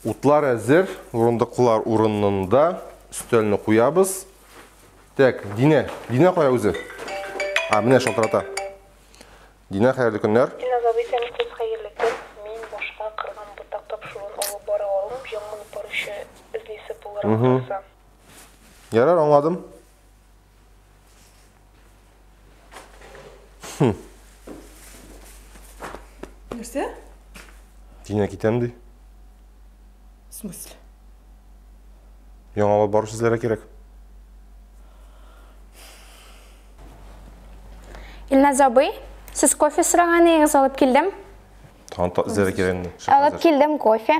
Утлар әзер, урындыклар урынында. Өстәлне куябыз. Так, Динә, Динә кая үзе? А, менә шалтырата. Динә, хәерле көннәр. Динә забый сән күп хәерле көн. Мин башка кырган ботак тапшыруын алып бара алмыйм, яңа алып баручы эзлисе булырга калса. Ярар, аңладым. Хм. Нәрсә? Тиңә китәм ди. В смысле? Яңалап бару сүзләре кирәк. Илназ абый, сез кофе сораган идегез, алып килдем. Тагын та эзләре кирәк инде. Алып килдем кофе.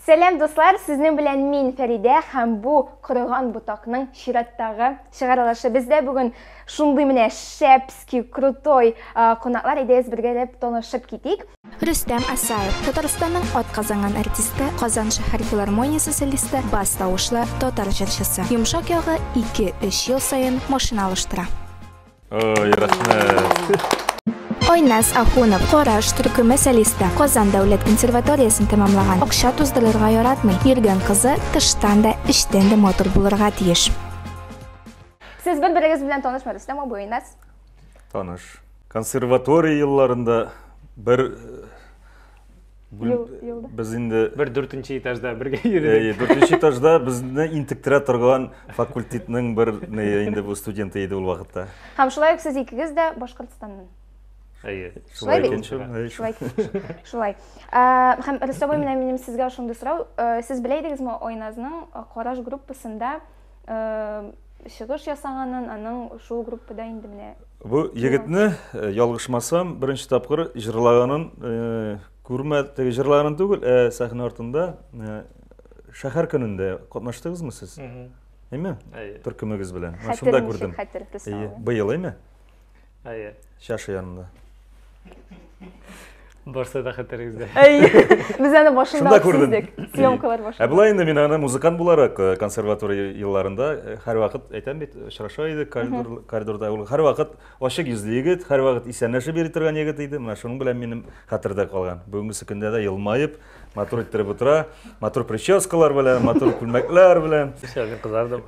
Сәлам дуслар, сезнең белән мин Фәридә һәм бу корыган ботакның чираттагы чыгарылышы. Бездә бүген шундый менә шәпски, крутой кунаклар идегез бергәләп танышып китик. Рөстәм Асаев, Татарстанның атказанган артисты, Казан шәһәр филармониясе солисты, бас тавышлы татар җырчысы. Йомшак ягы 2-3 ел саен машина алыштыра. Ой, рәхмәт. Айназ Ахунов, Караш төркеме солисты, Казан дәүләт консерваториясен тәмамлаган. Акча туздырырга яратмый. Йөргән кызы тыштан да, эчтән дә матур булырга тиеш. Сез бер-берегез белән танышмы, Рөстәм абый, Айназ? Таныш. Консерватория елларында бер без инде бер дүртенче этажда бергә йөрдек дүртенче этажда безне интектерә торган факультетның бер инде бу студенты иде ул вакытта һәм шулай ук сез икегез дә башкортстаннан әйе шулай бит шулай шулай һәм ростовой менә минем сезгә шундый сорау сез белә идегезме айназның караш группасында чыгыш ясаганын аның шул группада инде менә бу егетне э, ялгышмасам беренче тапкыр җырлаганын э, күрмә теге җырлаганын түгел ә э, сәхнә артында шәһәр көнендә катнаштыгызмы сез әйме төркемегез белән шунда күрдем быел әйме Әйе. Чаша янында. Барса да хәтерегездә. Әйе. Без аны башында күрдек. Съемкалар башында. Ә болай инде мин аны музыкант буларак э, консерватория елларында э, һәр вакыт әйтәм бит, очраша идек коридорда. Ул һәр вакыт ачык йөзле егет, һәр вакыт исәнләшеп йөри торган егет иде. Менә шуның белән минем хәтердә калган. Бүгенге көндә дә елмаеп, Матур иттереп утыра, матур прическалар белән, матур күлмәкләр белән. Шәл мин кызардым.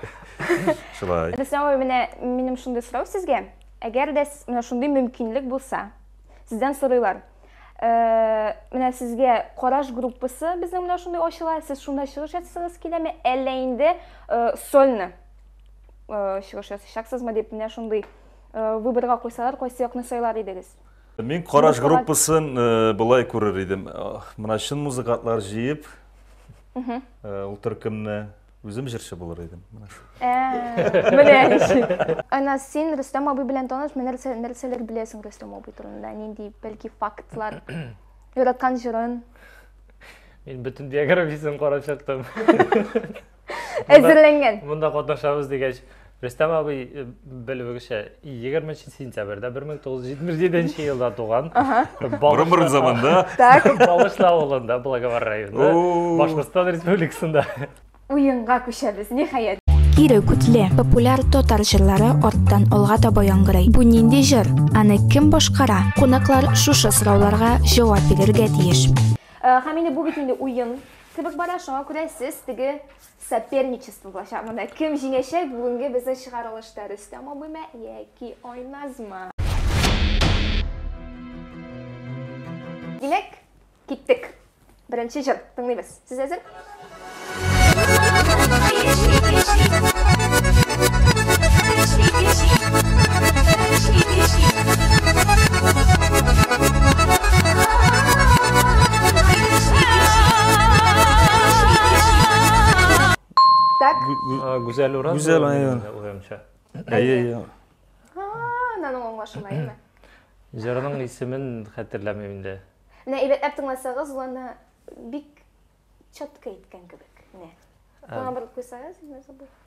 Шулай. Рәсәм абый, менә минем шундый сорау сезгә. Әгәр дә с- менә шундый мөмкинлек булса, сездән сорыйлар. Э, Менә сезгә Караш группасы безнең белән шундый ачыла, сез шунда чыгыш ясасагыз киләме, әллә инде э, сольны э, чыгыш ясыйчаксызмы дип менә шундый э, выборга куйсалар, кайсы якны сайлар идегез? Мин караш группасын э, былай күрер идем. Э, мына чын музыкантлар җыеп, э, ул төркемне үзем җырчы булыр идем. Менә ничек. Ана син Рөстәм абый белән таныш, менә нәрсәләр беләсең Рөстәм абый турында? Нинди бәлки фактлар? Яраткан җырын. Мин бөтен биографиясен карап чыктым. әзерләнгән монда катнашабыз дигәч рөстәм абый э, белүегезчә егерменче сентябрьдә бер мең тугыз йөз җитмеш җиденче елда туган борын борын заманда так балышлы авылында благовар районы башкортстан республикасында уенга күчәбез ниһаять Кире күтле, популяр татар җырлары арттан алга таба яңгырый. Бу нинди җыр? Аны кем башкара? Кунаклар шушы сорауларга җавап бирергә тиеш. Э, һәм инде бу бит инде уен Кебек бара, шуңа күрә сез теге соперничество булачак монда. Кем җиңәчәк бүгенге безнең чыгарылышта, Рөстәм абыймы яки Айназмы? Димәк, киттек. Беренче җыр тыңлыйбыз. Сез әзер? Так. Ә, Гүзәл Ураз. Гүзәл, ул әйе. мине уемча. Әйе, әйе. Haa, наның аңлашыма, әйме? Җырның исемен хәтерләмим инде. Менә әйбәтләп тыңласагыз, ул аны бик чатка иткән кебек. Менә. Ә, Аңа бер куйсагыз, менә забыл.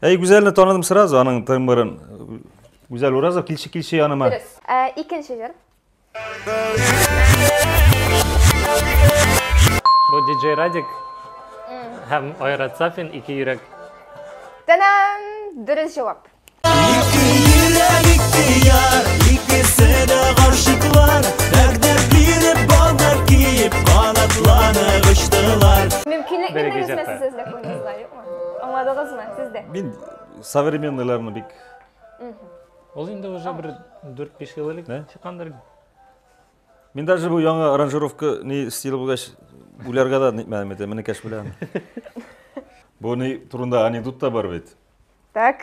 Әй, Гүзәлне таныдым сразу, аның тымбырын. Гүзәл Уразов, килче, килче яныма. Дөрес. Ә, Икенче җыр. Бу диджей Радик һәм Айрат Сафин ике йөрәк. Тәнәм! Дөрес җавап. Мөмкинлекне Береге бирегез, җырта. сез дә күңелләре. Аңладыгызмы, сез дә? Мин современныйларны бик Ул инде уже бер 4-5 ел элек Нә? чыккандыр. Мин даже бу яңа аранжировка ни стиле булгач уйларга да нитмәдем инде, менә кәш белән. Бу ни турында анекдот та бар бит. Так,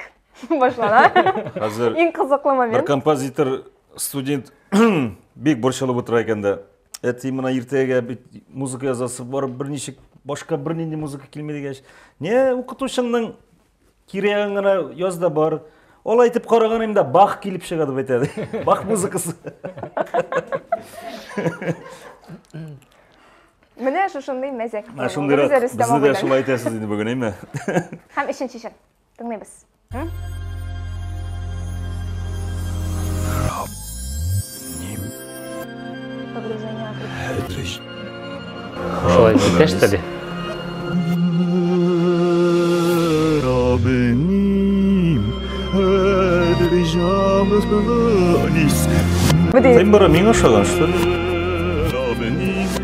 башлана. Хәзер Иң кызыклы бер момент. композитор студент бик борчылып утыра икән дә, әти мына иртәгә бит музыка язасы бар берничек башка бернинди музыка килми дигәч не укытучыңның кирәген генә яз да бар ул әйтеп караганым да бах килеп чыга дип әйтә бах музыкасы менә шушындый мәзәк шундыйрак безне дә шулай әйтәсез инде бүген әйме һәм өченче чын Тыңлыйбыз. Раб ним. Хәдриш. Шулай итәш тә бит. Син бара миңа ошаган, что ли?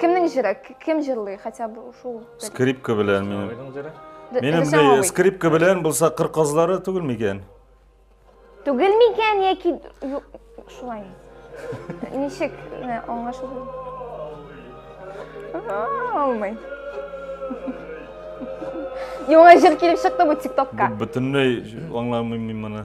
Кемнең җыры? Кем җырлый хотя бы шул? Скрипка белән мин. Минем скрипка белән булса кыр казлары түгел микән? Түгел микән яки шулай. Ничек аңлашылды? Алмый. Яңа җыр килеп чыкты бу ТикТокка. Бөтенләй аңламыйм мин моны.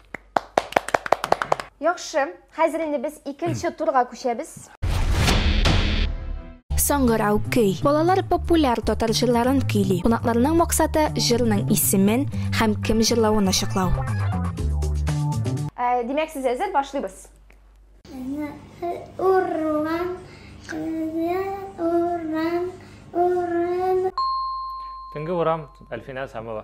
Яхшы, хәзер инде без икенче турга күчәбез. Саңгырау көй. Балалар популяр татар җырларын көйли. Кунакларның максаты, җырның исемен һәм кем җырлавын ачыклау. Ә, Димәк, сез әзер, башлыйбыз. Урман, урман, урман. Төнге урам, Әлфинә Сәмова.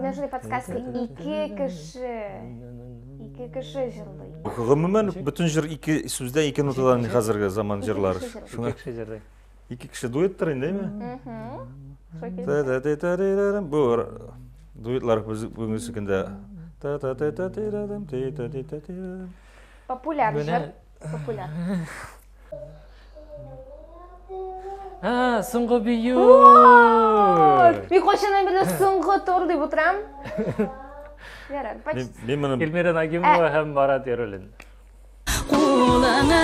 Нәжли подсказка ике кеше. Ике кеше җырлый. Гомумән бөтен җыр ике сүздән ике нотадан хәзерге заман җырлар. Ике кеше җырлый. Ике кеше дуэттер инде, әйме? Бу дуэтлар бүгенге көндә. Популяр җыр. Популяр. А, соңгы бию! Мин кайчаннан бирле соңгы тур дип утырам. Ярар, почти. Мин моны Эльмира Нагимова һәм ә- Марат Яруллин. Кулыңны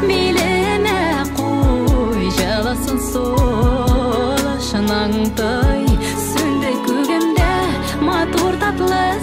билемә куй, җылысын сулышның той. Сүнде күгемдә матур татлы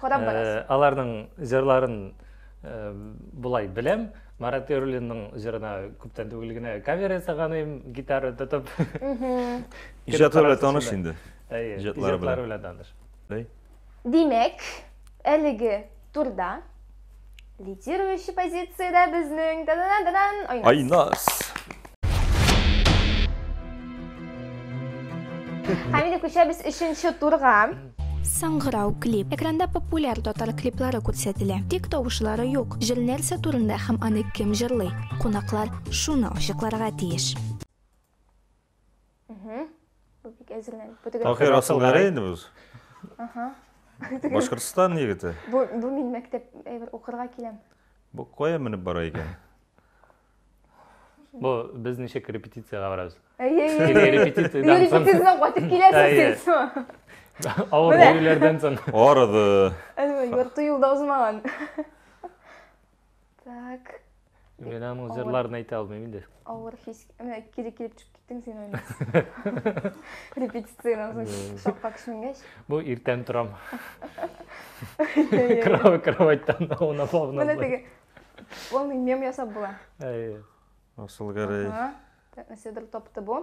Кадап барасың. Аларның җырларын болай беләм. Марат Эрулинның җырына күптән түгел генә кавер ясаган идем, гитара тотып. Иҗатлар белән таныш инде. Иҗатлар белән таныш. Димәк, әлеге турда Лидирующий позициядә безнең да-да-да-да-дан Айнас. Айнас. Һәм инде күчәбез өченче турга. Саңгырау клип. Экранда популяр татар клиплары күрсәтелә. Тик тавышлары юк. Җыр нәрсә турында һәм аны кем җырлый? Кунаклар шуны ачыкларга тиеш. Бу бик әзерләнеп. Бу теге Таһир Асылгәрәй инде без. Аха. Башкортстан егете. Бу бу мин мәктәп әйбер укырга киләм. Бу кая менеп бара икән? Бу без ничек репетициягә барабыз? Әйе, әйе. Репетициядән соң. Репетициядән кайтып киләсез сез. Авыр көйләрдән соң. Арыды. Әлбәттә, ярты юлда узмаган. Так. Мен аның җырларын әйтә алмыйм инде. Авыр хис. Менә кире килеп чыгып киттең син аны. Репетициядән соң шакка кешенгәч. Бу иртән торам. Кровать кроватьтан уна фавна. Менә теге. Ул мем ясап була. Әйе. Асыл гәрәй. Ага. Нәседер тапты бу.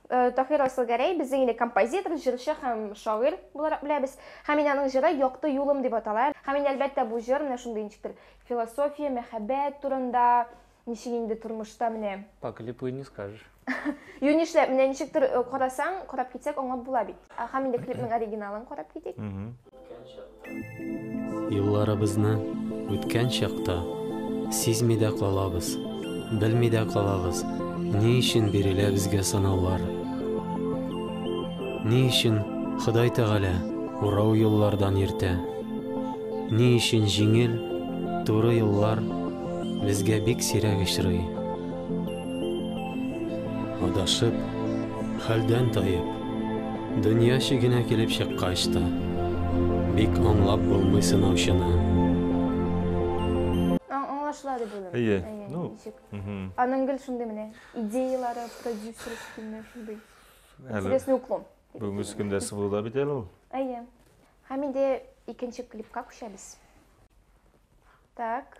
Э, Таһир Асылгәрәй безнең инде композитор, җырчы һәм шагыйрь буларак беләбез. Һәм мин аның җыры Якты юлым дип атала. Һәм инде әлбәттә бу җыр менә шундый ничектер философия, мәхәббәт турында, ничек инде тормышта менә. По клипу и не скажешь. Юни нишләп, менә ничектер э, карасаң, карап китсәк аңлап була бит. Һәм инде клипның оригиналын карап китик. Юлларыбызны үткән чакта сизми дә калабыз, белми дә калабыз, ни өчен бирелә безгә сынаулар. Ни өчен Ходай Тәгалә урау юллардан иртә? Ни өчен җиңел, туры юллар безгә бик сирәк очрый? Адашып, хәлдән таеп, дөнья чигенә килеп чыккач та, бик аңлап булмый сынаучыны. Аңлашыла дип уйлыйм. Әйе. Ну, аның гел шундый менә идеялары, продюсерский менә шундый. Интересный уклон. Бүгенге көндә сыгылуда бит әле ул. Әйе. Һәм инде икенче клипка күчәбез. Так.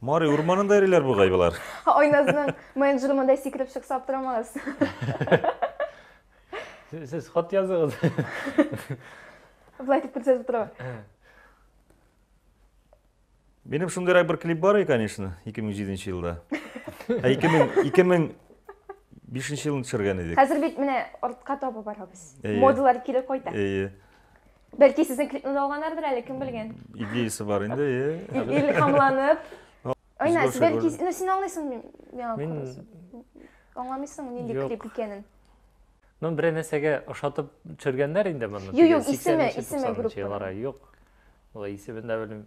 Мари урманында йөриләр бугай болар. Айназның менеджеры монда сикереп чыкса аптырамагыз. Сез хат языгыз. Былай дип күрсәтеп тора. Минем шундыйрак бер клип бар икән, конечно, 2007 елда. Ә 2000 2005 елын төшергән идек. Хәзер бит менә артка табы барабыз. Модалар кире кайта. Әйе. Бәлки сезнең клипны да алганнардыр әле, кем белгән. Идеясы бар инде, е. Илхамланып. Айна, сез бәлки, ну син аңлыйсың миңа Мин аңламыйсың нинди клип икәнен. Ну, бер нәрсәгә ошатып төшергәннәр инде моны. Юк, юк, исеме, исеме группа. Юк. Ул исемен дә белмим.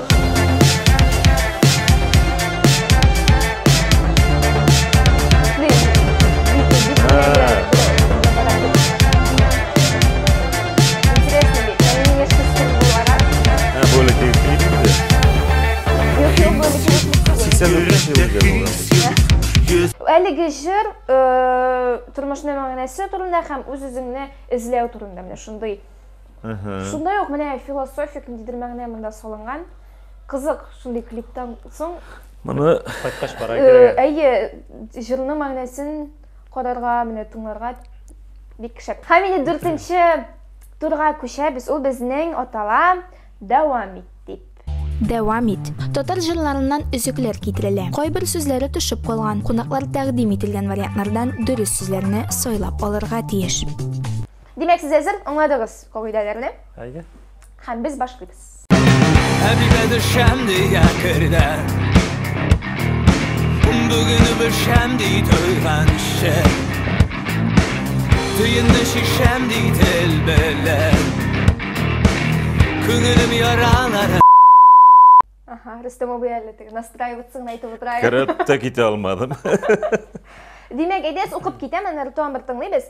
әлеге жыр ә, тұрмышның мәңгісі турында һәм үз-үзеңне эзләү турында менә шундый Шунда ук менә философик ниндидер мәгънә монда салынган. Кызык, шундый клиптан соң Моны кайткач бара э, Әйе, җырның мәгънәсен карарга, менә тыңларга бик шәп. Һәм инде дүртенче турга күчәбез. Ул безнең атала дәвам ит дип. Дәвам ит. Татар җырларыннан өзекләр китерелә. Кайбер сүзләре төшеп калган. Кунаклар тәкъдим ителгән вариантлардан дөрес сүзләрне сайлап алырга тиеш. Димәк, сез әзер аңладыгыз кагыйдәләрне? Әйе. Һәм без башлыйбыз. Әбигә төшәм дигә кердә. Бүген бешәм ди туйганчы. Төенне шишәм ди тел белән. Күңелем яралар Ага, Рөстәм абый әле теге настраиватсың әйтеп утыра. Кереп тә китә алмадым. Димәк, әйдәс укып китәм, әнә Ртуан бер тыңлыйбыз.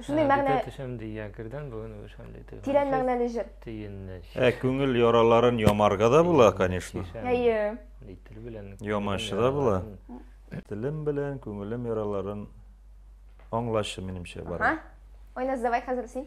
Шундый мәгънә төшәм дигән кердән бүген шундый тыгын. Тирән мәгънәле җыр. Тиенне. Ә күңел яраларын ямарга да була, конечно. Әйе. Тел белән. Ямашы да була. Телем белән күңелем яраларын аңлашы минемчә бар. Айназ, давай хәзер син.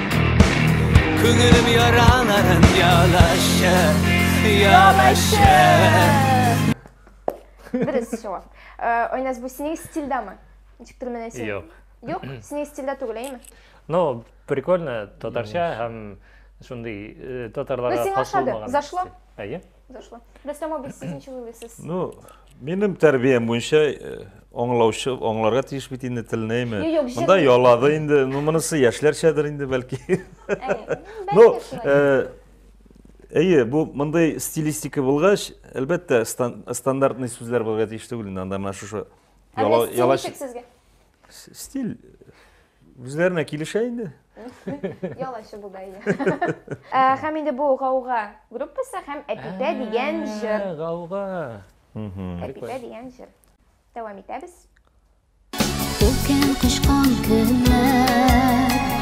Күңелем яраларын ялашы, ялашы. Дөрес җавап. Э, Айназ, бу синең стильдәме? Ничек түгел менә син? Юк. Юк, синең стильдә түгел, әйме? Ну, прикольно, татарча һәм шундый э, татарларга Ну, сиңа хас ошады. булмаган. Зашло? Әйе. Дөршле. Рөстәм абый, сез ничек уйлыйсыз? Ну, минем тәрбиям буенча э, аңлаучы, аңларга тиеш бит инде телне, әйме? Юк, юк, Монда ялады инде, ну, монысы яшьләрчәдер инде, бәлки. Ну, э, әйе, бу мондый стилистика булгач, әлбәттә, стандартный сүзләр булырга тиеш түгел инде, анда менә шушы. Ә Рөстәм, ничек сезгә? Стиль үзләренә килешә инде. Ял ачы булды әйе. Ә, Һәм инде бу гауга группасы һәм Әпипә дигән җыр. Ә, Гауга. Әпипә дигән җыр. Дәвам итәбез. Үткән кышкан көннәр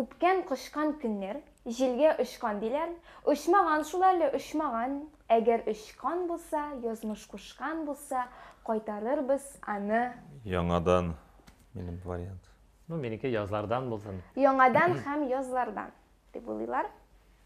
Үпкән кочкан көннәр, җилгә очкан, диләр, Очмаган шул әле, очмаган. Әгәр очкан булса, язмыш кушкан булса, Кайтарырбыз аны. Яңадан, минем вариант. Ну, минеке язлардан булсын. Яңадан һәм язлардан, дип уйлыйлар.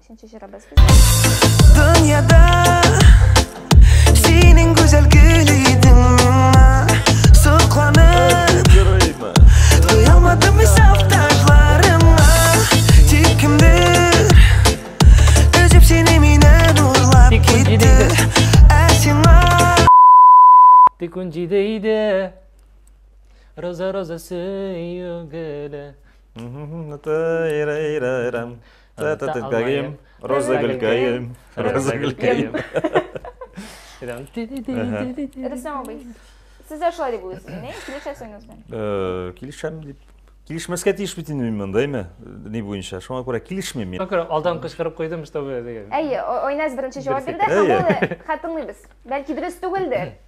Икенче җырыбыз Дөньяда синең гүзәл гөл идең Сокланып Туя алмадым исәп ташларыма Тик кемдер Өзеп сине миннән урлап китте Ә сиңа Тик он җиде иде Роза роза сөю гөле Тәтәтәткәем, роза гөлкәем, роза гөлкәем. Рөстәм абый, сез дә шулай дип уйлыйсыз, не? Килешәсеңез мени? Э, килешәм дип. Килешмәскә тиеш бит инде мин монда, әйме? Ни буенча? Шуңа күрә килешмим мин. Күрә алдан кычкырып куйдым, что вы дигән. Әйе, Ойназ беренче җавап бирде, һәм ул хатынлыбыз. Бәлки дөрес түгелдер.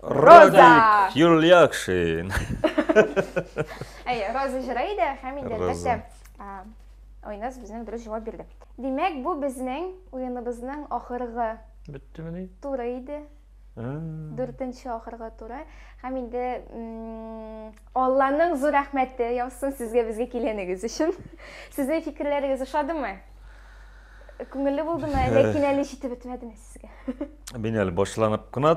Радик Юльякшин. Әй, Роза җырый да һәм инде әлбәттә Айназ безнең дөрес җавап бирде. Димәк, бу безнең уеныбызның ахыргы. Беттемени? Туры иде. Дүртенче ахыргы туры. Һәм инде Алланың зур рәхмәте яусын сезгә безгә килгәнегез өчен. Сезнең фикерләрегез ошадымы? Күңелле булдымы? Ләкин әле җитеп бетмәдеме сезгә? Мин әле башланып кына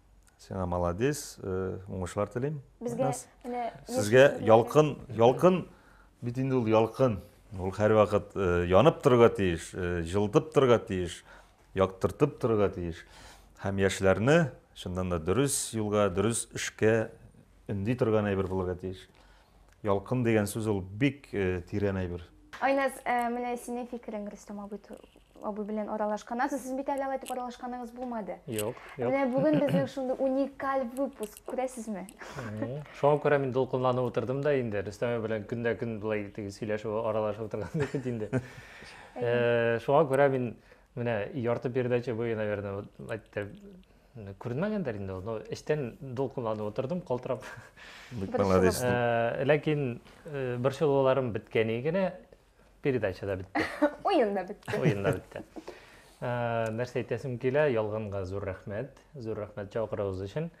Сиңа молодец, э, уңышлар телим. Безгә Нас. менә Сезгә яшь- ялкын, ялкын, бит инде ул ялкын. Ул һәрвакыт э, янып торырга тиеш, э, җылытып торырга тиеш, яктыртып торырга тиеш. Һәм яшьләрне чыннан да дөрес юлга, дөрес эшкә өнди торган әйбер булырга тиеш. Ялкын дигән сүз ул бик э, тирән әйбер. Айназ, э, менә синең фикерең Рөстәм абый ту- абый белән аралашкан. Азы сез бит әле алай итеп аралашканыгыз булмады. Юк, юк. Менә бүген безнең шундый уникаль выпуск, күрәсезме? Мгм. Шуңа күрә мин дулкынланып утырдым да инде. Рөстәм белән көндә-көн былай теге сөйләшеп, аралашып утырган бит инде. Э, Шуңа күрә мин менә ярты передача буе, наверное, вот әйтте, Күренмәгәндер инде ул. Эчтән дулкынланып утырдым, калтырап. Бик молодец. Ләкин борчылуларым беткәне генә передача да бетте. Уен да бетте. Уен да бетте. Нәрсә әйтәсем килә, ялганга зур рәхмәт. Зур рәхмәт чакыруыгыз өчен.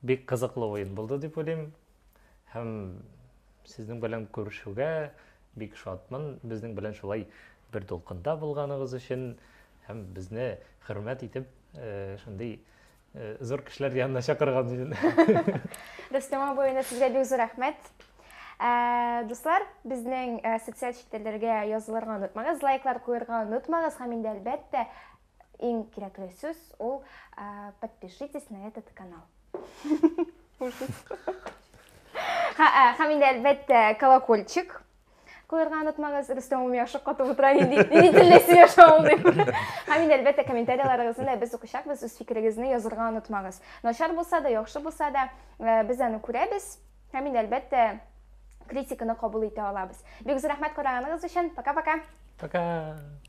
Бик кызыклы уен булды дип уйлыйм. һәм сезнең белән күрешүгә бик шатмын. Безнең белән шулай бер дулкында булганыгыз өчен һәм безне хөрмәт итеп э, шундый э, зур кешеләр янына чакырган өчен. Рөстәм абый, инде сезгә бик зур рәхмәт. Э, дуслар, безнең социаль челтәрләргә язылырга онытмагыз, лайклар куярга онытмагыз һәм инде әлбәттә Иң кирәкле сүз ул подпишитесь на этот канал. Һәм инде әлбәттә колокольчик куярга онытмагыз рөстәм улым яхшы катып утыра нинди нинди телдә сөйләшә ул дип һәм инде әлбәттә комментарияларыгызны да без укучакбыз үз фикерегезне язырга онытмагыз начар булса да яхшы булса да э, без аны күрәбез Һәм инде әлбәттә критиканы кабул итә алабыз. Бик зур рәхмәт караганыгыз өчен. Пока-пока. Пока. -пока. пока.